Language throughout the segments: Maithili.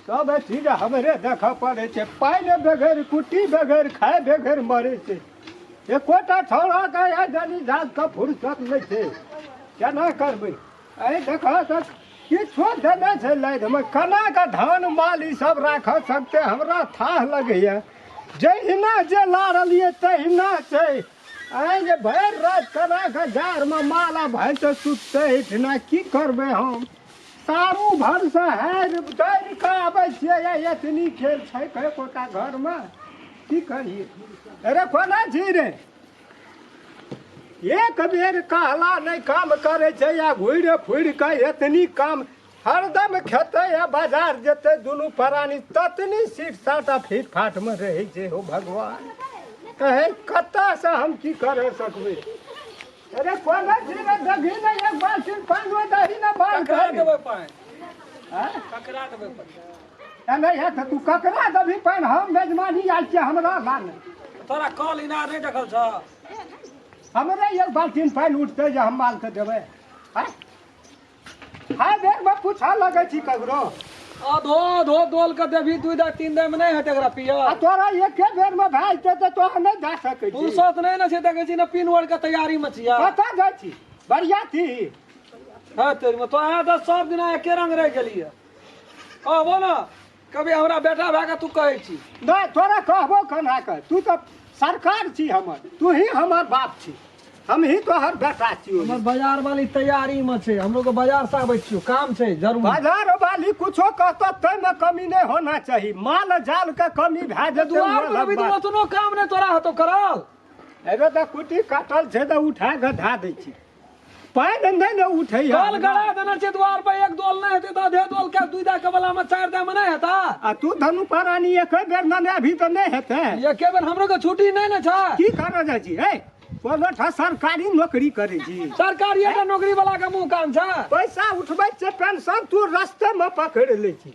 सब चीज हमरे देख पड़े छै पाइ ने बेगर कुट्टी बेगर खाए बेगर मरे छै एकोटा छौड़ा के या जनी जात के फुर्सत नहि छै केना करबै एहि देख तऽ किछो देने छै लाइनमे केना के धान माल ई सब राख सकते हमरा थाह लगैया जहिना जे लारलियै तहिना छै आइ जे भरि राति केना के जाड़मे माला भैंस सुततै एहिठिना की करबै हम सारू भरसँ हारि डरि कऽ आबै छियै या एतनी खेल छै कहे कोटा घरमे की कहियै अरे कोना छी रे एक बेर कहला नहि काम करै छै या घुरि फुरि कऽ एतनी काम हरदम खेतै या बाजार जेतै दुनू प्राणी ततनी सीट साटा फीट फाटमे रहै छै हो भगवान कहे कतयसँ हम की करै सकबै अरे कौन है जी रे दगी ने एक बार सिर पान हुए दही ना बाल ककरा कर देबै पानि हां ककरा देबै पानि एने है त तू ककरा दभी पान हम मेजमानी आइल छी हमरा लान तोरा कल इनार नहि देखल छ हमरे एक बाल्टीन पानि उठते जे हम माल के देबै हैं हाय देख बा पूछा लगे छी ककरो अधो अधो डोल के देवी दू दा तीन दा में नहीं हेतै एकरा पिया आ तोरा एके बेर में भए जेतै तऽ तोहर नहि जा सकै छी फुर्सत नहीं ना छै देखे छी ना पिन वर्ड के तैयारी में छिया कतऽ जाइ छी बढ़िया छी है तेरी में तो आया दस सब दिन एके रंग रह गेलिए कहबो ना कभी हमरा बेटा भए कऽ तू कहै छी नहि तोरा कहबो कना कर तू तऽ सरकार छी हमर तू ही हमर बाप छी हम ही तोहर बेटा छी हमर बाजार वाली तैयारी में छै हम लोग बाजार से आबै छियो काम छै जरूर बाजार वाली कुछो कहतो तै में कमी नहीं होना चाहिए माल जाल के कमी भए जे दुआर में अभी तो ओतनो काम नहीं तोरा हतो करल अरे तऽ कुटी काटल छै तऽ उठा के धा दै छी पाय धंधा ने उठे कल गड़ा देना छै द्वार पर एक दोल नहीं हेते दादे दोल के दुई दा के वाला में चार दा में नहीं हेता आ तू धनु पारानी एक बेर ना अभी तो नहीं हेते एक बेर हमरो के छुट्टी नहीं ना छ की कर जा जी ए बोलठा सरकारी नौकरी करे जी सरकारी ए नौकरी वाला के मुंह काम छ पैसा उठबै छै पेंशन तू रास्ते में पकड़ ले छी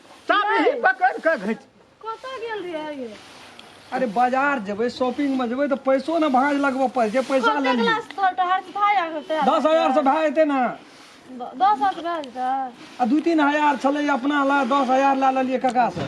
चाबी पकड़ के घच कतऽ गेल रहियै ये अरे बाजार जेबै शॉपिंग में जेबै तऽ पैसो ने भाँज लगबऽ पड़ै छै पैसा कते लेलियै क्लास तोहर तऽ हर भाय आ गेल तैयार दस हजार से भए जेतै ने द- दस हजार से भए जेतै आ दू तीन हजार छलै अपना लए दस हजार लए लेलियै कका से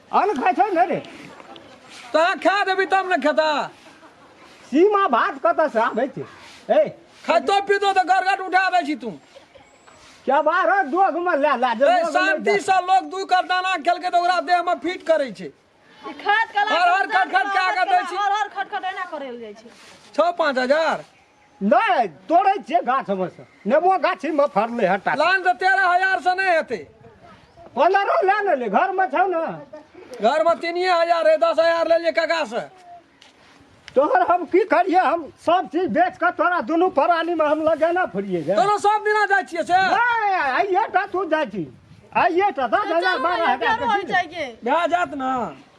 अन्न खाइ छै ने रे तोरा खा देबी तब ने खेता सीमा भात कतऽ से आबै छै ए खाइतो पीतो तऽ गरगट उठा दै छी तू क्या बार हो दोग में ला ला जे ए, दोग में शांति से लोग दू कर दाना खेलकै तऽ ओकरा देह में फिट करै छै ई खाद कला हर हर खट खट कए कऽ दै छी। हर हर खटखट एना करल जाइ छै छओ पाँच हजार नहि तोड़ै छियै गाछ हमर से नेबो गाछी मे फड़लै हटा लाइन तऽ तेरह हजार से नहि हेतै पन्द्रह लए ने ले घर मे छौ ने घर मे तीनिए हजार है दस हजार लेलिए काका से तोहर हम की करिए हम सब चीज बेच कऽ तोरा दुनू परानी मे हम लगेना फुरिए गे तोरो सब दिना जाइ छियै से नहि, आइए टा तू जाइ छी आइए टा दस हजार बारह हजार के चीज। भए जात ने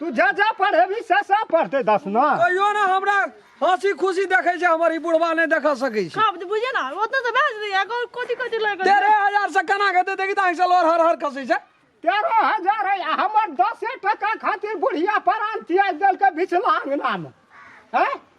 तू जा जा पढ़ेबी से सब पढ़ते दस ना कहियो ना हमरा हंसी खुशी देखे छै हमर ई बुढ़वा नहि देख सकै छै कब बुझे ना ओतना तो भेज दिया को कोटी कोटी लग तेरह हजार से केना खेते देखी तऽ अहिसँ लोर हर हर खसै छै तेरह हजार है आ हमर दसे टका खातिर बुढ़िया परान तियाज देलकै बिचला अंगना में हैं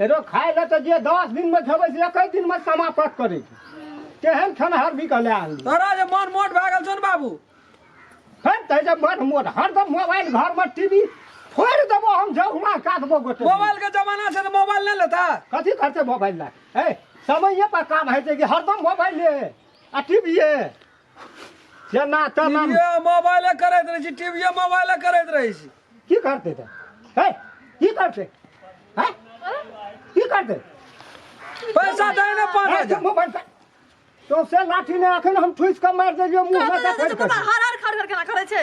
एरो खाय ले तऽ जे दस दिन में खेबै से एक दिन में समाप्त करै छै केहन खेनहर भी कहले आन तोरा जे मन मोट भए गेल छौ ने बाबू फेर तै जे मन मोट हरदम मोबाइल घर में टीवी फोड़ देबो हम जहुना काटबो गोटे मोबाइल के जमाना छै तऽ मोबाइल नहि लेता कथी करते मोबाइल लए ए समय पर काम होइ छै कि हरदम मोबाइल ले आ टीवी जेना तेना टीवीए मोबाइले करैत रहै छी टीवीए मोबाइले करैत रहै छी की करतै तऽ हे की करतै हे की करतै पैसा दै ने पाँच हे, हजार मोबाइल पर। तो से लाठी ने अखन हम ठुसि कऽ मारि देलियो मुंह में देखैत कऽ। हर हर खड़ खड़ केना करै छै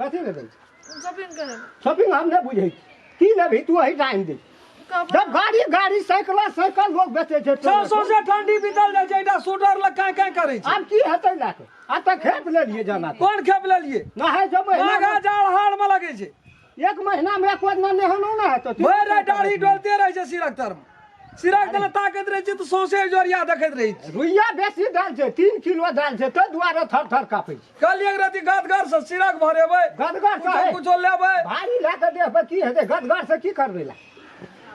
कथी लेबै शॉपिंग करे शॉपिंग हम नहि बुझै छी की लेबही तू अही टाइम दे कपड़ा जब गाड़ी गाड़ी साइकिल साइकिल लोग बेचे छै छओ सौ से ठंडी बीतल जाइ छै एकटा स्वेटर लग काँ काँ करै छै आब की हेतै लए कऽ आ तऽ खेप लेलियै जाना तऽ। कोन खेप लेलियै नहाय जो माघा महीना जाड़ हार मे लगै छै एक महीना मे एक बार नहेलो ने हेतौ भरि राति डाढ़ी डोलते रहै छै सिरक तर मे सिरक दने ताकैत रहै छी तऽ सौंसे जोरिया देखैत रहै छी रुइया बेसी धल छै तीन किलो धल छै ताहि दुआरे थर थर कापै छै कहलियै एक रति गदगर से सिरक भरेबै गदगर से कुछो- कुछो लेबै भारी लए कऽ देह पर की हेतै गदगर से की करबै लए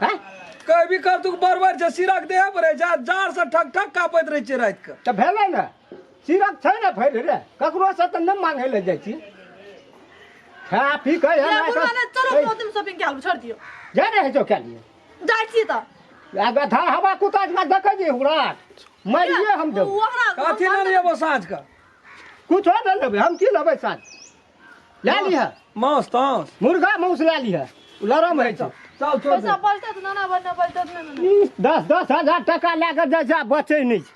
हैं? कहबी कर तू बरबर छै सिरक देह पर रहै छै जाड़ से ठक ठक कापैत रहै छै राति के तऽ भेलै ने सिरक छै ने फैर रे ककरो से तऽ नहि मांगै लए जाइ छी खा पी कऽ एना कऽ- शॉपिंग कए छोड़ दियौ जा रहै छौ कए लिए जाइ छी तऽ वएह गधा हवा कुत्ता जकाँ देखै छी हमरा मारिए हम देब ओकरा कथी लऽ रही अब साँझ का कुछो नहि लेबै हम की लेबै साँझ लए लिह मांस तांस मुर्गा मांस लए लिह लरम होइ छै चल छोड़ पैसा दे बचतै तऽ नाना बने बचतै तऽ नहि ने। दस दस हजार टाका लए कऽ जाइ छै आ बचै नहि छै